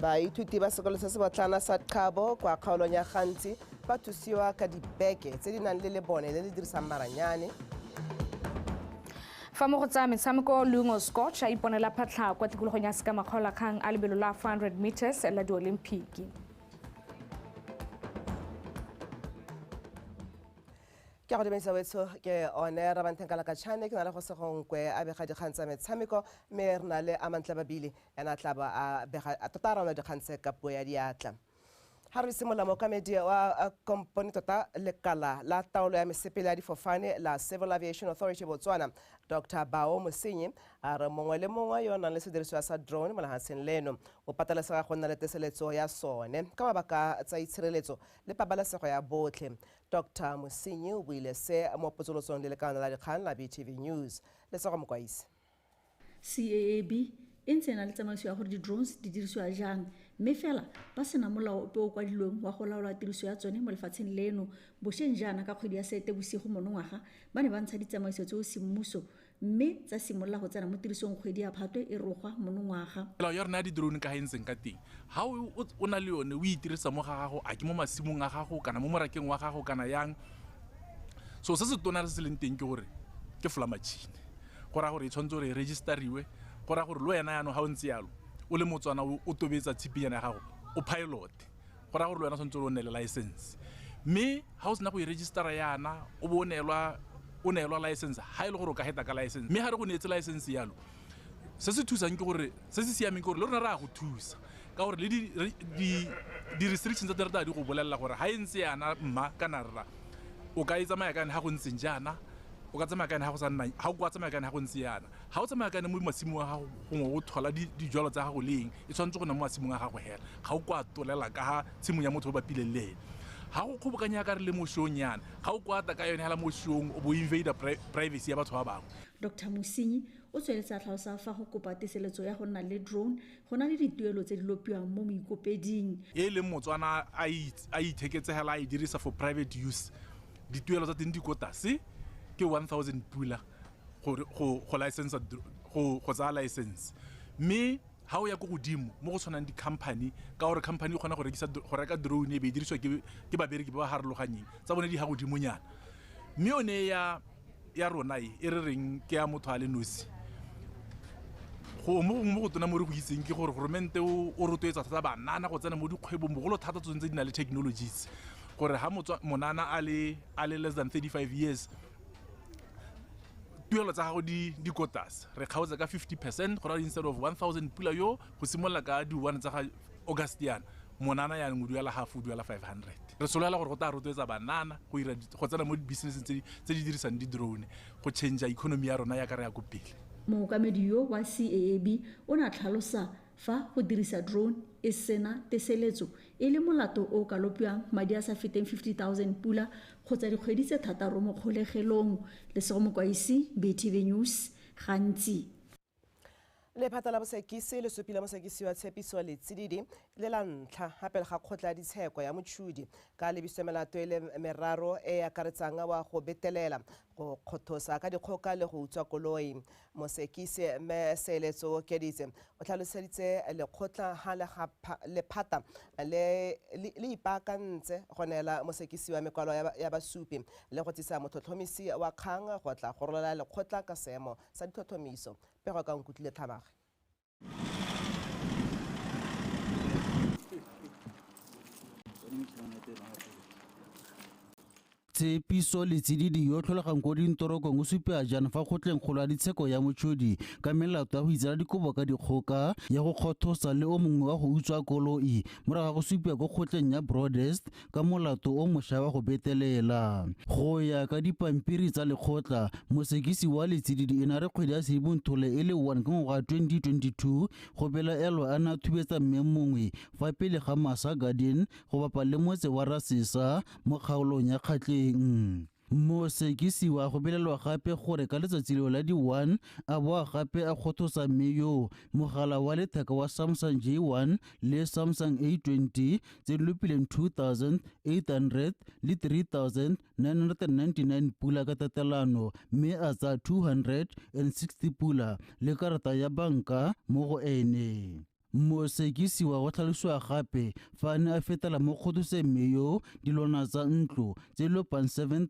baithuti ba sekolo se se botlana sa qhabo kwa kgaolong ya gantsi ba thusiwa ka dibeke tse di nang le lebone le le dirisang maranyane fa mo go tsaya metshameko lungo scotch a iponela phatlha kwa tikologong ya sekamakgolakgang a lebelo la 400 meters la diolimpiki ke go dumedisa wetsho ke one rabanthenkala ka chane ke na le go segonkwe a bega dikgang tsa metshameko mme re na le amantle babile ena a tla ba a bega tota a raona dikgang tse ka puo ya diatla ga re simolola mookamedi wa kompone tota lekala la taolo ya mesepele ya difofane la civil aviation authority botswana dr bao mosenyi a re mongwe le mongwe yo o nang le sedirisiwa sa drone mo lehatsheng leno o patelesega go nna le teseletso ya sone ka mabaka tsa itshireletso le pabalesego ya botlhe Doctor Mosinyi o buile se mo potsolotsong le lekana la dikgang la BTV News. Lesego Mokwaisi. CAAB e ntse e na le tsamaiso ya gore di-drones di dirisiwa jang mme fela ba sena molao ope o kwadilweng wa go laola tiriso ya tsone mo lefatsheng leno. Bosheng jaana ka kgwedi ya Seetebosigo monongwaga ba ne ba ntsha ditsamaiso tseo semmuso mme tsa simolola go tsena mo tirisong kgwedi ya phatwe e rogwa monongwaga melao ya rona ya di-drone ka ga e ntseng ka teng ga o na le yone o itirisa mo ga gago a ke mo masimong a gago kana mo morakeng wa gago kana yang so se se tona se se leng teng ke gore ke fla machine go raya gore e tshwanetse gore e registeriwe go raya gore le wena yanong ga o ntse yalo o le motswana o tobetsa tshipinyana ya gago o pilote go raya gore le wena tshwanetse o nne le license mme ga o sena go e registera yana o bo o neelwa o neelwa license ga e le gore o ka heta ka license mme ga re go neetse license yalo se se thusang ke gore se se siameng ke gore le rona re ya go thusa ka gore le di-restrictions tsa terata di go bolelela gore ga e ntse yana mma kana rra o ka e tsamaya ka yone ga go ntseng jaana o ka tsamaya ka yone ga go sa nna ga o ka tsamaya ka yone ga go ntse yana ga o tsamaya kane mo masimong a gago gongwe o thola dijalo tsa gago le eng e tshwanetse go na mo masimong a gago hela ga o kwa tolela ka ga tshimong ya motho o bapileng le ene ga o kgobokanya ya ka re le mo shong yana ga o kwata ka yone hela mo shong o bo invader privacy ya batho ba bangwe dr mosinyi o tsweletse a tlhalosa fa go kopa teseletso ya go nna le drone go na le dituelo tse di lopiwang mo moikopeding e leng motswana a itheketsegela a e dirisa for private use dituelo tsa teng di ko tase ke 1000 pula go tsaya license mme ga o ya ko godimo mo go tshwanang di-company ka gore company e kgona go reka drone e be e dirisiwa ke babereki ba ba harologanyeng tsa bone di ya godimonyana mme yone ya rona e e re reng ke ya motho a le nosi gongwe gongwe mo go tona mo re go itseng ke gore goromente o rotloetsa thata banana go tsena mo dikgwebong bogolo thata tsone tse di na le technologies gore ga monana a le less than thirty five years tuelo tsa gago di di ko tlase re kgaotsa ka 50 percent go raya instead of 1000 pula yo go simolola ka di one tsa ga august yana monana yanong o duela half o duela 500 re solela gore go tla rotloetsa banana go ira go tsena mo dibusinesseng tse tse di dirisang di-drone go change economy ya rona ya ka re ya ko pele mookamedi yo wa CAAB o ne a tlhalosa fa go dirisa drone e sena teseletso E le molato o o ka lopiwang madi a sa feteng 50 000 pula kgotsa dikgwedi tse thataro mo kgolegelong. Lesego Mokwaisi, BTV News, Gantsi. Lephata la bosekisi le supile mosekisi wa Tshepiso Letsididi e le la ntlha ha pele ga kgotla ya ditsheko ya Motšhudi ka lebiso ya melato e le meraro e e akaretsang wa go betelela, go kgothosa ka dikgoka le go utswa koloi. Mosekise Mme Seeletso Okeditse o tlhaloseditse lekgotla ha lephata le le ipaakantse go neela mosekisiwa mekwalo ya basupi le go tsisa motlhotlhomisi wa kgang go tla gorolela lekgotla ka seemo sa ditlhotlhomiso. Pego ka Nkutlile Tlhabage. tshepiso le tsididi yo tlholegang ko dintorokong o supea jang fa kgotleng kgolo ya ditsheko ya motshodi ka melato ya go itsela dikobo ka dikgoka ya go kgothosa le o mongwe wa go utswa koloi morago ga go supea ko kgotleng ya broadest ka molato o mosha wa go betelela. Go ya ka dipampiri tsa lekgotla, mosekisi wa letsididi e na re kgwedi ya Sedimonthole e le 1 ka ngwaga wa 2022 go belaelwa a ne a thubetsa mme mongwe fa pele ga Massa Garden go bapa le motse wa Rasesa mo kgaolong ya Kgatleng. Mosekisi wa go belelwa gape gore ka letsatsi leo la di-1 a boa gape a kgothosa mme yoo mogala wa letheka wa Samsung J1 le Samsung A20 tse di lopileng 2800 le 3999 pula ka tatelano mme a tsaya 260 pula le karata ya banka mo go ene. Mosekisiwa o tlhalosiwa gape fa a ne a fetela mo kgoduseng mme yo dilwana tsa ntlo tse di lopang 7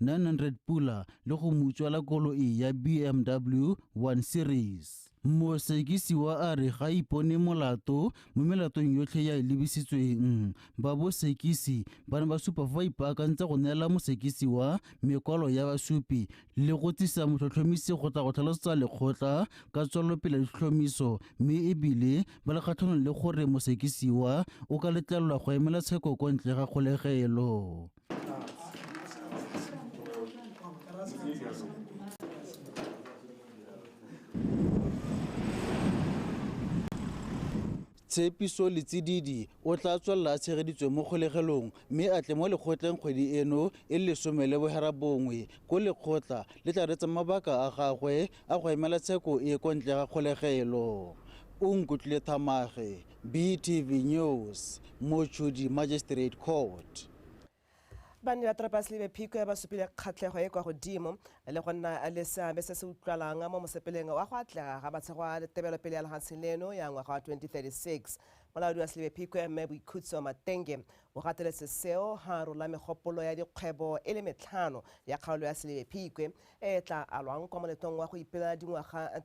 900 pula le go mo utswela koloi ya BMW 1 Series. Mosekisiwa a re ga ipone molato mo melatong yotlhe ya e lebisitsweng. Ba bosekisi ba ne ba supa fa ba ipaakantse go neela mosekisiwa mekwalo ya basupi le go tsisa motlhotlhomisi go tla go tlhalosetsa lekgotla ka tswelelopele ya ditlhotlhomiso mme e bile ba le kgatlhanong le gore mosekisiwa o ka letlelelwa go emela tsheko kwa ntle ga kgolegelo. Tshepiso Letsididi o tla tswelela a tshegeditswe mo kgolegelong mme a tle mo lekgotleng kgwedi eno e le lesome le boherabongwe ko lekgotla le tla reetsang mabaka a gagwe a go emela tsheko e kwa ntle ga kgolegelo. Unkutlile Thamage, BTV News, Mochudi Magistrate Court. Banni ba Trapas le Bephikwe ba supile kgatlhego e kwa godimo le go nna le seabe se se utlwalang mo mosepeleng wa go atlega ga matshego a tebelopele ya lehatshe leno ya ngwaga wa 2036. Molaodi wa Slebephikwe, Mme Boikhutso Matenge, o gateletse seo ha rola megopolo ya dikgwebo e le metlhano ya kgaolo ya Slebephikwe e e tla alwang kwa moletong wa go ipeela dingwaga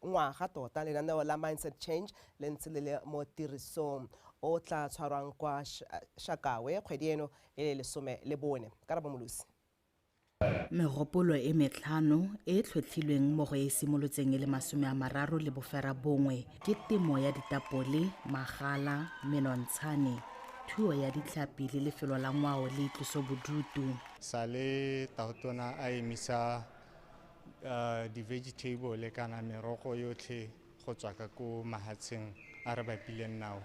ngwaga tota lenaneo la mindset change le ntse le le mo tirisong o tla tshwarwang kwa shakawe kgwedi eno e le lesome le bone ka rabomolosi Megopolo e metlhano e e tlhotlhilweng mo go e e simolotseng e le masome a mararo le bofera bongwe ke temo ya ditapole, magala, menontshane, thuo ya ditlhapi le lefelo la ngwao le itlosobodutu. Sale tautona a emisa di-vegetable kana merogo yotlhe go tswa ka ko mahatsheng a re bapileng nao.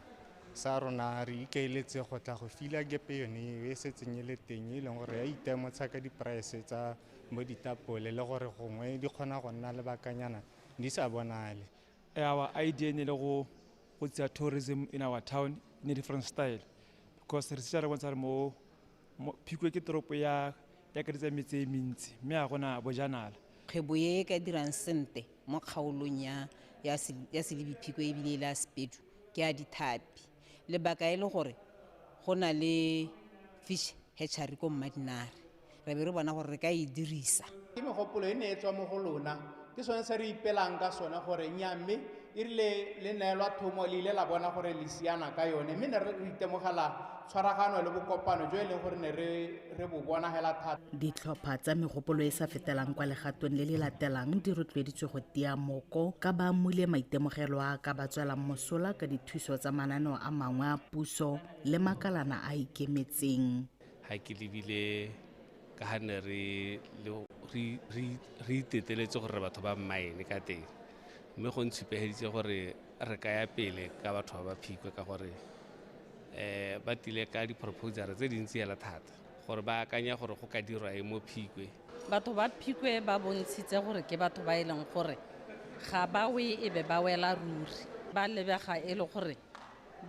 Sa rona re ikaeletse go tla go fila gepe yone eo e setseng e le teng e leng gore ya itemotsha ka di-price tsa bo ditapole le gore gongwe di kgona go nna lebakanyana di sa bonale. Our idea ne le go go tsaya tourism in our town in a different style because re setse re bontsha re mo Phikwe ke toropo ya e akaretsa metse e mentsi mme ga gona bojanala. Kgwebo e e ka dirang sente mo kgaolong ya ya Selebi Phikwe e bile e le ya Sepedu ke ya dithapi. Lebaka e le gore go na le fish hatchery ko Mmadinare. Re be re bona gore re ka e dirisa. Ke megopolo e ne e tswa mo go lona ke sone se re ipelang ka sone gore nya mme e rile le neelwa thomo le ile la bona gore le siana ka yone mme ne re itemogela tshwaragano le bokopano jo e leng gore ne re bo bona hela thata ditlhopha tsa megopolo e sa fetelang kwa legatong le le latelang di rotloeditswe go tia moko ka ba mmule maitemogelo a ka ba tswelang mosola ka dithuso tsa mananeo a mangwe a puso le makalana a ikemetseng ga ke lebile ka ga ne re re iteteletse gore batho ba mmaene ka teng mme go ntshupegeditse gore re ka ya pele ka batho ba ba phikwe ka gore um ba tile ka di-proposal tse dintsi fela thata gore ba akanya gore go ka dirwa e mo phikwe batho ba phikwe ba bontshitse gore ke batho ba e leng gore ga ba we e be ba wela ruri ba lebega e le gore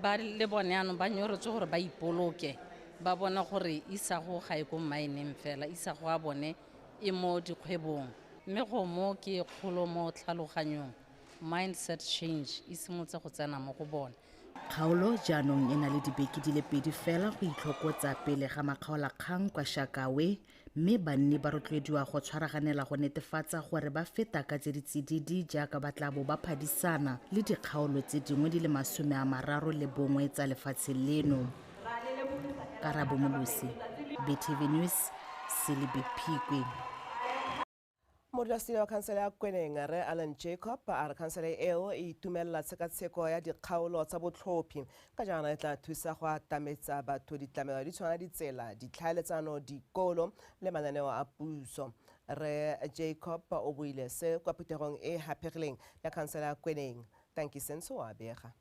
ba le bone yanong ba nyorotse gore ba ipoloke ba bona gore isago ga e ko mmaeneng fela isago a bone e mo dikgwebong mme go mo ke kgolo mo tlhaloganyong mindset change e simotse go tsena mo go bone Kgaolo jaanong e na le dibeke di le pedi fela go itlhokotsa pele ga makgaolakgang kwa Shakawe mme banni ba rotloediwa go tshwaraganela go netefatsa gore ba feta ka tse di tsididi jaaka ba tla bo ba phadisana le dikgaolo tse dingwe di le masome a mararo le bongwe tsa lefatshe leno karabo molosi btv news selebephikwe modulasetilo wa khansele ya kweneng re alan jacob a re khansele eo e itumelela tshekatsheko ya dikgaolo tsa botlhophi ka jaana e tla thusa go atametsa batho ditlamelo di tshwana ditsela ditlhaeletsano dikolo le mananeo a puso re jacob o buile se kwa phuthegong e gapegileng ya khansele ya kweneng tankisentso o a bega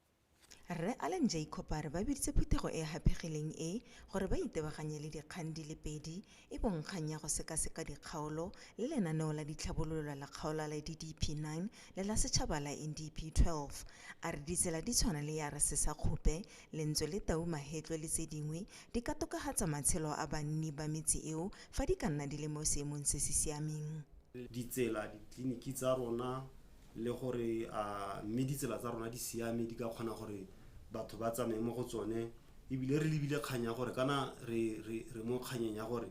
Rre Allan Jacob a re ba biditse phuthego e e haphegileng e gore ba itebaganye le dikgang di le pedi e bong kgang ya go sekaseka dikgaolo le lenaneo la ditlhabololo la kgaolo la DDP 9 le la setšhaba la NDP 12. A re ditsela di tshwana le ya Resesa Khupe, Lentswe le Tau Mahetlwe le tse dingwe di ka tokafatsa matshelo a banni ba metse eo fa di ka nna di le mo seemong se se siameng. Ditsela, ditleliniki tsa rona, le gore a mme ditsela tsa rona di siame di ka kgona gore batho ba tsamaye mo go tsone ebile re lebile kgang ya gore kana re re re mo kganyeng ya gore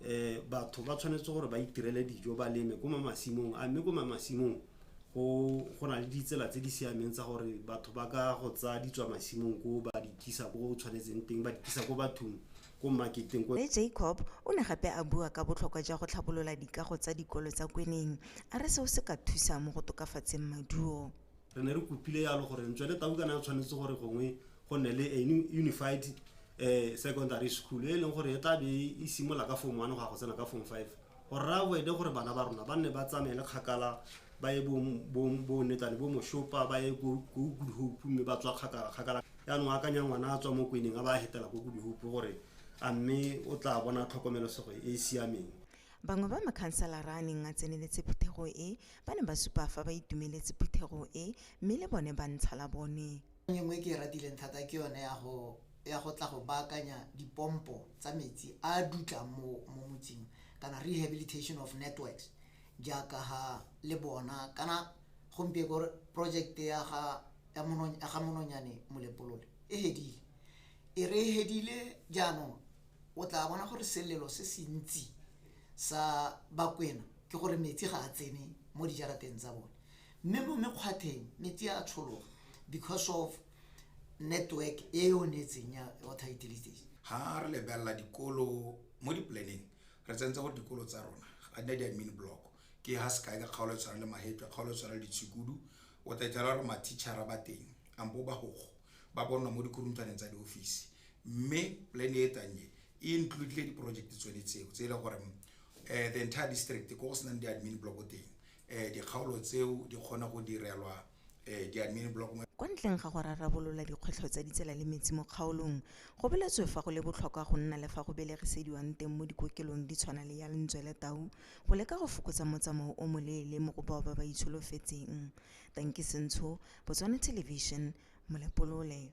eh batho ba tshwanetse gore ba itirele dijo ba leme ko mamasimong a mme ko mamasimong go go na le ditsela tse di siameng tsa gore batho ba ka go tsaya ditswa masimong ko ba di tlisa ko tshwanetseng teng ba di tlisa ko bathong ko maketeng ko. Rre Jacob o ne gape a bua ka botlhokwa jwa go tlhabolola dikago tsa dikolo tsa kweneng, a re seo se ka thusa mo go tokafatseng maduo. Re ne re kopile yalo gore ntswe le tau kana e tshwanetse gore gongwe go nne le a unified secondary school e leng gore e tla be e simola ka form one go ya go tsena ka form five. Go raya Boede gore bana ba rona ba nne ba tsamaele kgakala ba ye boonetlane bo Moshopa ba ye ko Good Hope mme ba tswa kgakala kgakala. Yaanong akanya ngwana a tswa mo kweneng a ba a hetela ko Good Hope gore a mme o tla bona tlhokomelosego e e siameng. Bangwe ba makhanselara a neng a tseneletse phuthego e ba ne ba supa fa ba itumeletse phuthego e mme le bone ba ntsha la bone. E nngwe e ke e ratileng thata ke yone ya go ya go tla go baakanya dipompo tsa metsi a a dutlang mo mo motseng kana rehabilitation of networks jaaka ha le bona kana gompieko project ya ga ya mono ya ga mononyane molepolole e hedile e re e hedile jaanong o tla bona gore selelo se se ntsi sa bakwena ke gore metsi ga a tsene mo dijarateng tsa bone Mme mo mekgwatheng metsi a tshologa because of network e e onetseng ya water utilities. Ha re lebelela dikolo mo di-plan-eng re tsentse gore dikolo tsa rona ga di na di-admin block. Ke ha sekai ka kgaolo e tshwana le Mahetla, kgaolo e tshwana le Ditshukudu o tla ithola gore ma-teacher-a ba teng ampo ba gogo ba bonwa mo dikhurunthwaneng tsa di-office. Mme plan e tlang e e include-le di-project tsone tseo tse e le goreng the entire district ko go senang di-admin block teng um dikgaolo tseo di kgone go direlwa um di-admin block mo kwa ntleng ga go rarabolola dikgwetlho tsa ditsela le metsi mo kgaolong go boletswe fa go le botlhokwa go nna le fa go belegisediwang teng mo dikokelong di tshwana le ya lentswe le tau go leka go fokotsa motsamao o moleele mo go bao ba ba itsholofetseng tanki sentsho botswana television molepolole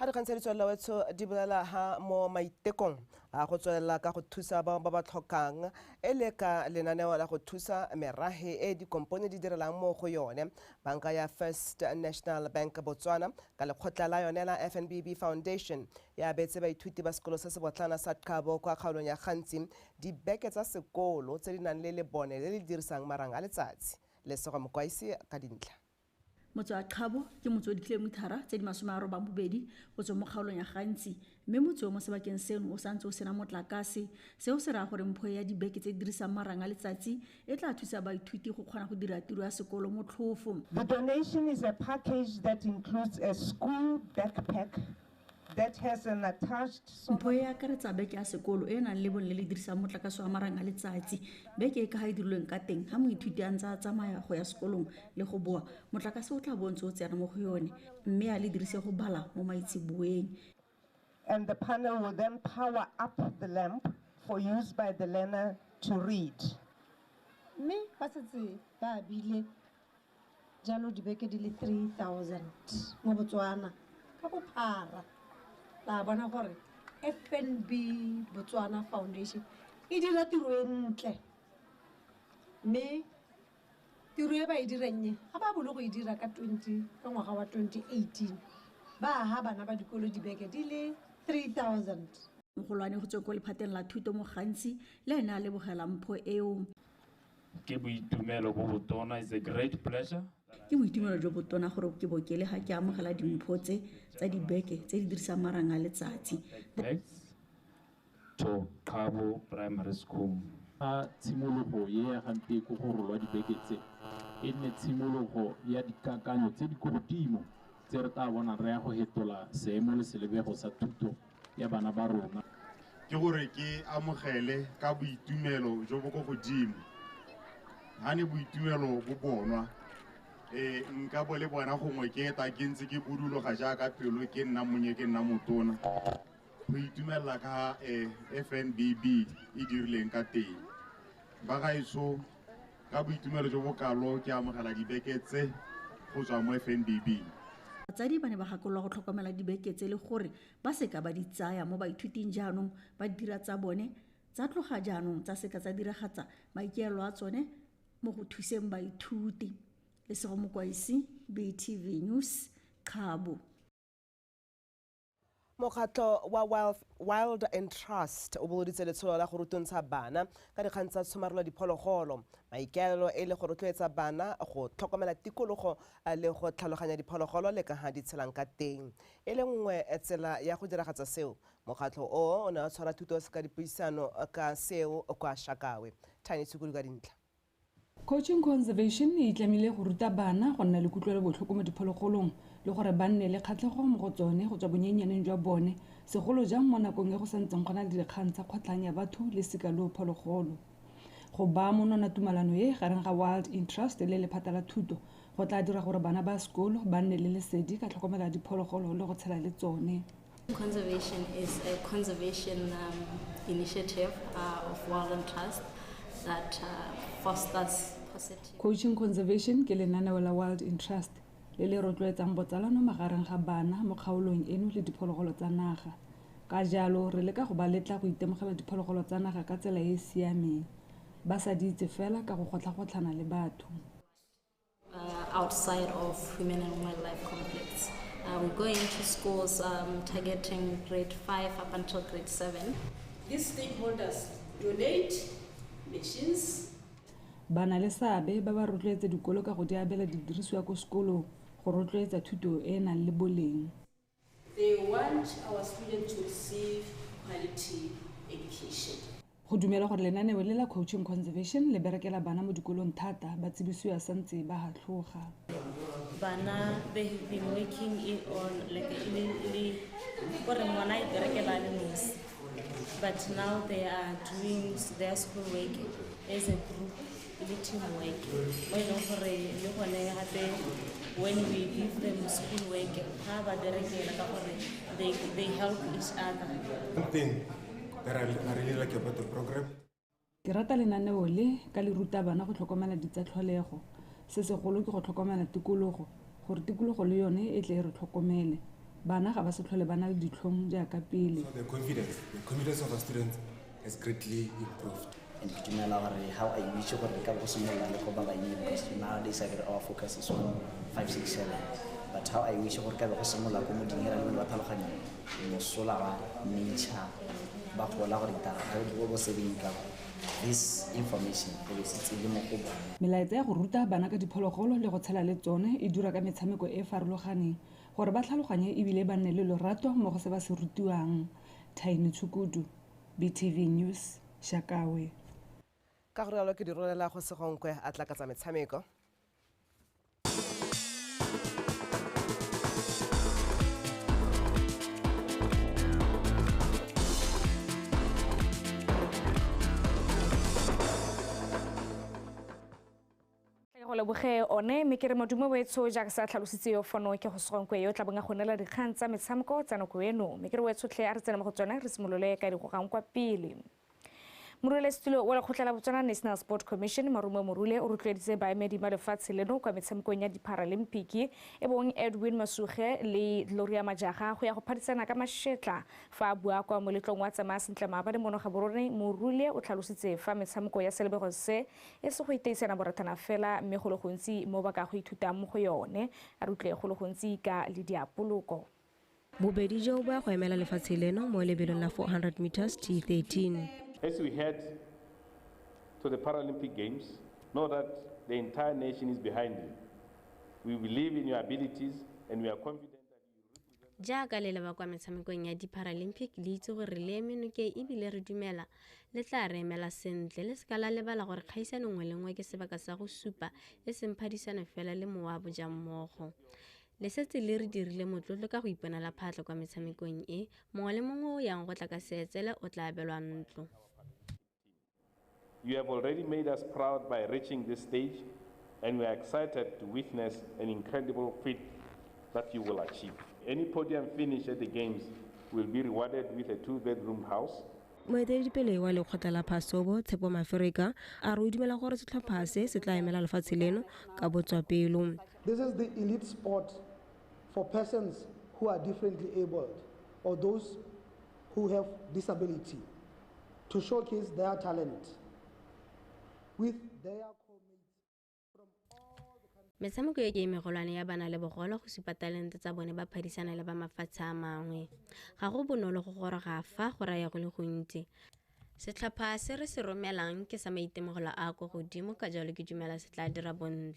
ga re kgantsha ditswelela wetsho di bolela ha mo maitekong a go tswelela ka go thusa bao ba ba tlhokang e le ka lenaneo la go thusa merage e dikompone di direlang mo go yone banka ya first national bank botswana ka lekgotla la yone la fnbb foundation E abetse baithuti ba sekolo se sebotlana sa Qhabo kwa kgaolong ya Gantsi dibeke tsa sekolo tse di nang le lebone le le dirisang marang a letsatsi. Lesogo Mokwaisi ka dintlha. Motse wa Qhabo ke motse o dikilomithara tse di masome a robang bobedi go tswa mo kgaolong ya Gantsi, mme motse o mo sebakeng seno o santse o sena motlakase. Seo se raya gore mpho e ya dibeke tse di dirisang marang a letsatsi e tla thusa baithuti go kgona go dira tiro ya sekolo motlhofo. The donation is a package that includes a school backpack that has an attached solar Ntlo e e akaretsa beke ya sekolo e e nang le bone le le dirisang motlakase wa marang a letsatsi. Beke e ka ga e dirilweng ka teng, ga moithuti a ntse a tsamaya go ya sekolong le go boa, motlakase o tla bo o ntse o tsena mo go yone mme a le dirise go bala mo maitseboeng. and the panel will then power up the lamp for use by the learner to read. Mme ba setse ba bile Jalo dibeke di le 3000 mo Botswana ka bophara la bona gore FNB Botswana Foundation e dira tiro e ntle mme tiro e ba e dirang e ga ba bolo go e dira ka 20 ka ngwaga wa 2018 ba aga bana ba dikolo dibeke di le 3000 Mogolwane go tswe ko lephateng la thuto mo Ghansi le ene a lebogela mpho eo. Ke boitumelo bo botona, it's a great pleasure. Ke boitumelo jo botona gore ke bo ke le ga ke amogela dimpho tse tsa dibeke tse di dirisang marang a letsatsi. Bags to Qhabo Primary School. Fa tshimologo e ya ga Nteko go rolwa dibeke tse, e nne tshimologo ya dikakanyo tse di ko godimo tse re tlaa bonang re ya go hetola seemo le selebego sa thuto ya bana ba rona. Ke gore ke amogele ka boitumelo jo bo ko godimo, ha ne boitumelo bo bonwa ee nka bo le bona gongwe ke eta ke ntse ke buduloga jaaka pelo ke nna monnye ke nna motona go itumelela ka um FNBB e dirileng ka teng ba gaetsho Ka boitumelo jo bokalo ke amogela dibeke tse go tswa mo FNBB. Batsadi ba ne ba gakololwa go tlhokomela dibeke tse le gore ba seka ba di tsaya mo baithuting jaanong ba dira tsa bone tsa tloga jaanong tsa seka tsa diragatsa maikaelo a tsone mo go thuseng baithuti. Lesego Mokwaisi, BTV News, Kgabo. mokgatlho wa wild and trust o bogoditse letsholo la go rutontsha bana ka dikgang tsa tshomarelo diphologolo maikaelelo e le go rotloetsa bana go tlhokomela tikologo eh, le go tlhaloganya diphologolo le ka ga di tshelang ka teng e le nngwe eh, tsela ya go diragatsa seo mokgatlho o o ne wa tshwara thuto ka dipuisano eh, ka seo kwa shakawe tiny tshukulu ka dintlha Coaching Conservation e itlamile go ruta bana go nna le kutlwelobotlhoko mo diphologolong le gore ba nne le kgatlhego mo go tsone go tswa bonnyenyaneng jwa bone, segolo jang mo nakong e go santseng go na le dikgang tsa kgotlhang ya batho le sikaloo phologolo. Go baa monwana tumalano e gareng ga Wild in Trust le lephata la thuto go tlaa dira gore bana ba sekolo ba nne le lesedi ka tlhokomelo ya diphologolo le go tshela le tsone. Conservation is a conservation um, initiative uh, of Wild and Trust that uh, fosters positive. Coaching Conservation ke lenaneo la Wild in Trust le le rotloetsang botsalano magareng ga bana mo kgaolong eno le diphologolo tsa naga ka jalo re leka go ba letla go itemogela diphologolo tsa naga ka tsela e e siameng ba sa di itse fela ka go kgotlhagotlhana le batho Uh, outside of women and wildlife complex. Uh, we go into schools um, targeting grade 5 up until grade 7. These stakeholders donate machines. Bana le seabe ba ba rotloetsa dikolo ka go di abela didirisiwa ko sekolong go rotloetsa thuto e e nang le boleng. Go dumelwa gore lenaneo le la Coaching Conservation le berekela bana mo dikolong thata ba tsibisiwa santse ba hatlhoga. Bana they have been working in all like e ne e le gore ngwana a iperekela a le nosi but now they are doing their school work as a group le teamwork mo e leng gore le gone gape when we give them school work ga ba berekela ka gore they, they help each other thing that I, I really like about the program ke rata lenaneo le ka le ruta bana go tlhokomela ditsa tlholego se segolo ke go tlhokomela tikologo gore tikologo le yone e tle e re tlhokomele bana ga ba se tlhole ba na le ditlhong jaaka pele so the confidence the confidence of our students has greatly improved. And ke dumela gore how I wish gore re ka go simolola le go bala eng because nowadays I get our focus is on 567 but how I wish gore ka be go simolola ko moding e ra le ba tlhaloganya mosola wa nature ba gola gore itara ga o dibo bo sebeng ka this information e be setse le mo go bone melaetsa ya go ruta bana ka diphologolo le go tshela le tsone e dura ka metshameko e e farologaneng gore ba tlhaloganye ebile ba nne le lorato mo go se ba se rutiwang thaini tshukudu BTV News, Shakawe. Ka go rialo ke di rolela go segonkwe a tla ka tsa metshameko. Tla ke go leboge one mme ke re modumo wetsho jaaka se a tlhalositse yo fono ke go segonkwe yo tla bong a go neela dikgang tsa metshameko tsa nako eno mme ke re wetshotlhe a re tsene mo go tsone re simolole ka digogang kwa pele moruelesetulo wa lekgotla la botswana national sport commission marumo morule o rotloeditse baemedi ba lefatshe leno kwa metshamekong ya diparalimpiki e bong edwin masuge le gloria majaga go ya go phadisana ka mashetla fa a bua kwa moletlong wa tsamaya sentle maabane mono ga borone morule o tlhalositse fa metshameko ya selebego se E se go iteisana borathana fela mme go le gontsi mo ba ka go ithutang mo go yone. A re utlwe go le gontsi ka le diapoloko. Bobedi joo bo ya go emela lefatshe leno mo lebelong la 400 metres T13. As we head to the Paralympic Games, know that the entire nation is behind you. We believe in your abilities and we are confident that. jaaka le leba kwa metshamekong ya di-paralympic le itse gore le eme nokeng ebile re dumela le tla re emela sentle le seka la lebala gore kgaisano nngwe le nngwe ke sebaka sa go supa e seng phadisano fela le mowa wa bojang mmogo le setse le re dirile motlotlo ka go iponela phatlho kwa metshamekong e mongwe le mongwe o yang go tla ka seetsele o tla abelwa ntlo You have already made us proud by reaching this stage, and we are excited to witness an incredible feat that you will achieve. Any podium finish at the Games will be rewarded with a two-bedroom house moeteledipele wa lekgotla la phasobo tshepo mafereka a re o dumela gore setlhopha se se tla emela lefatshe leno ka botswapelo this is the elite sport for persons who are differently abled or those who have disability to showcase their talent with their metshameko e ke e megolwane ya bana le bogolo go supa talente tsa bone ba phadisana le ba mafatshe a mangwe ga go bonolo go goroga fa go raya go le gontsi setlhopha se re se romelang ke sa maitemogelo a ko godimo ka jalo ke dumela se tla dira bontle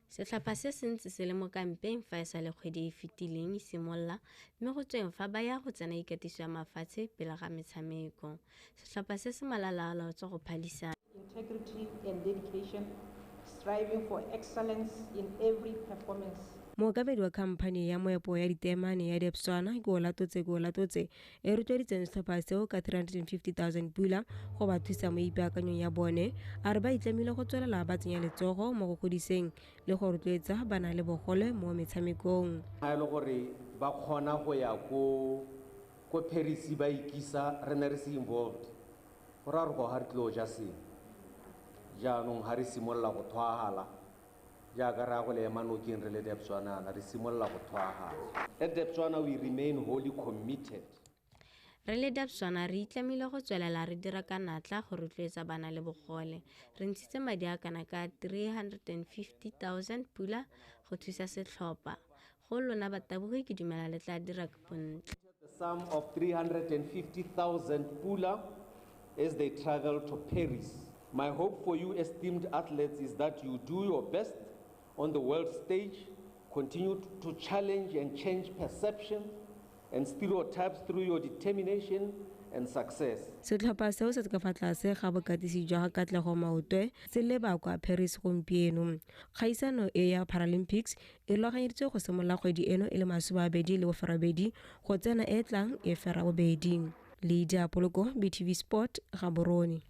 Setlhopha se se ntse se le mo kampeng fa e sa le kgwedi e fetileng e simolola mme go tsweng fa ba ya go tsena ikatiso ya mafatshe pele ga metshameko. Setlhopha se se malalaalaotswe go phadisa. integrity and dedication, striving for excellence in every performance. Mookabedi wa khamphani ya moepo ya diteemane ya Debswana, Keolatotse Keolatotse, e rotloeditseng setlhopha seo ka 350,000 pula go ba thusa mo ipaakanyong ya bone a re ba itlamile go tswelela ba tsenya letsogo mo go godiseng le go rotloetsa bana le bogole mo metshamekong ga e le gore ba kgona go ya ko ko Paris ba ikisa re ne re se involved go ra gore go ga re tlilo ja seng jaanong ga re simolola go thwagala Jaaka raya go le ema nokeng re le Debswanana, re simolola go thwagana. At Debswana we remain wholly committed. Re le Debswana re itlamile go tswelela re dira ka natla go rotloetsa bana le bogole. Re ntshitse madi a kana ka 350 000 pula go thusa setlhopha. Go lona batabogi ke dumela le tla dira bontle. The sum of 350,000 pula as they travel to Paris. My hope for you esteemed athletes is that you do your best on the world stage, continue to challenge and change perception and stereotypes through your determination and success. Setlhopha seo se ka fa tlase ga bokatisi jwa Katlego Maotwe se leba kwa Paris gompieno. Kgaisano e ya Paralympics e rulaganyeditswe go simolola kgwedi eno e le masomabedi le boferabedi go tsena e tlang e ferabobedi le diapoloko btv sport gaborone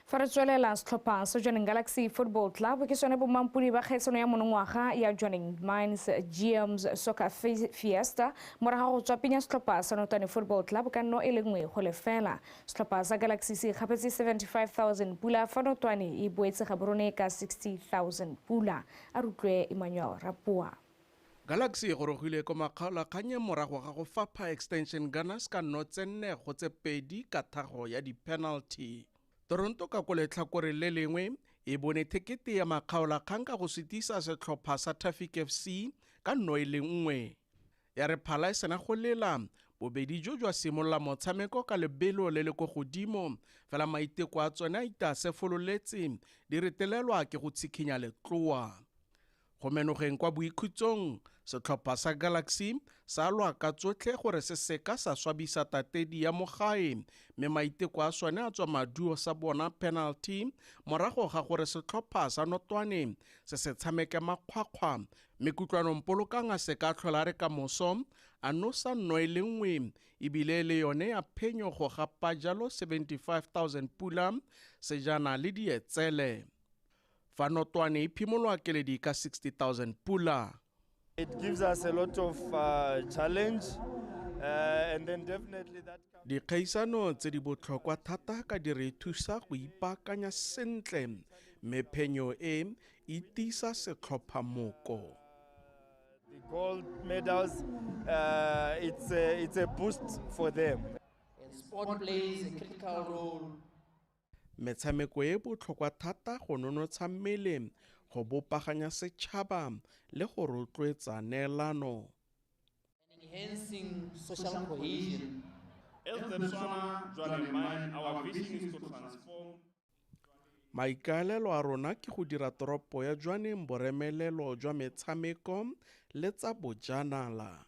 fa re tswelela setlhopha sa joining galaxy football club ke sone bomampodi ba kgaisano ya monongwaga ya joining mines gms soccer fiesta moraga go tswa penya setlhopha sa notane football club ka nno e le nngwe go lefela setlhopha sa galaxy se ikgapetse 75000 pula fa notwane e boetse gaborone ka 60000 pula A re utlwe Emmanuel Rapoa. Galaxy e gorogile ko makgaolakganyeng morago ga go fapha Extension Gunners ka nno tse nne go tse pedi ka thago ya di-penalty. Toronto ka ko letlhakoreng le lengwe e bone thekete ya makgaolakgang ka go sutisa setlhopha sa Tafik FC ka nno e le nngwe. Ya re phala e sena go lela, bobedi jo jwa simolola motshameko ka lebelo le le ko godimo, fela maiteko a tsone a itasefololetse di retelelwa ke go tshikhinya letloa. Go menogeng kwa boikhutsong, setlhopha sa Galaxy sa lwa ka tsotlhe gore se seka sa swabisa tatedi ya mogae mme maiteko a sone a tswa maduo sa bona penalty morago ga gore setlhopha sa Notwane se se tshameke makgwakgwa Mme kutlwanong polokang a se ka tlhola re ka moso, a nosa nno e le nngwe, ebile le yone ya phenyo go gapa jalo 75,000 pula, sejana le dietsele. Fa notwane e phimolwa keledi ka 60,000 pula. It gives us a lot of uh, challenge. Uh, and then definitely that comes... dikgaisano tse di botlhokwa thata ka di re thusa go ipaakanya sentle mme phenyo e e tiisa setlhopha moko The gold medals, uh, it's, a, it's a boost for them. And sport plays a critical role metshameko e botlhokwa thata go nonotsha mmele go bopaganya setšhaba le go rotloetsa neelano Maikaelelo a rona ke go dira toropo ya Jwaneng boremelelo jwa metshameko le tsa bojanala.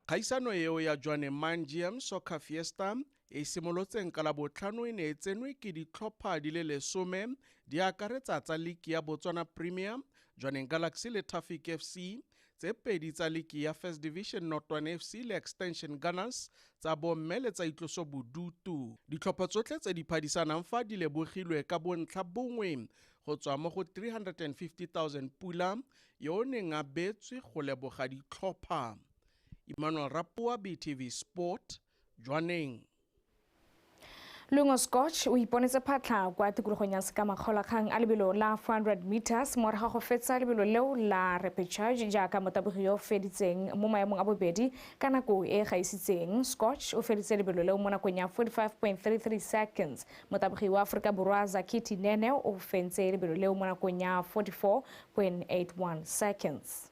Kgaisano eo ya Jwaneng Mangium Soccer Fiesta e e simolotseng ka Labotlhano e ne e tsenwe ke ditlhopha di le lesome di akaretsa tsa liki ya Botswana Premier, Jwaneng Galaxy le Tafik FC, tse pedi tsa liki ya first division notwane fc le extension gunners tsa bomme le tsa itloso bodutu ditlhopho tsotlhe tse di phadisanang fa di lebogilwe ka bontlha bongwe go tswa mo go 350000 pula yo o neng a betswe go leboga ditlhopha emmanuel rapoa btv sport jwaneng. Lungo Scotch o iponetse phatlha kwa tikologong ya sekamakgolakgang a lebelo la 400 meters morago ga go fetsa lebelo leo la repechage jaaka motabogi yo o feditseng mo maemong a bobedi ka nako e e gaisitseng scotch o feditse lebelo leo mo nakong ya 45.33 seconds motabogi wa aforika borwa zakiti nene o fentse lebelo leo mo nakong ya 44.81 seconds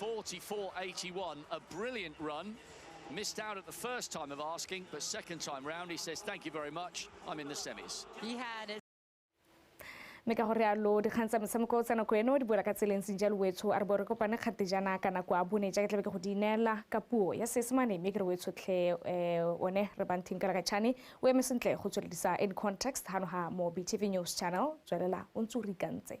44.81, a brilliant run. Missed out at the first time of asking, but second time round, he says, thank you very much, I'm in the semis. He had a mme ka gore yalo dikgang tsa motshameko tsa nako eno di boela ka tseleng senja lowetsho a re bo re kopane kgatejana ka nako a bone jaaka tlabe ke go di ineela ka puo ya seesemane mme ke re wetsho tlhe um eh, one re banthing ka lakatšhane o eme sentle go tsweledisa in context gano ga mo btv news channel tswelela o ntse o re ikantse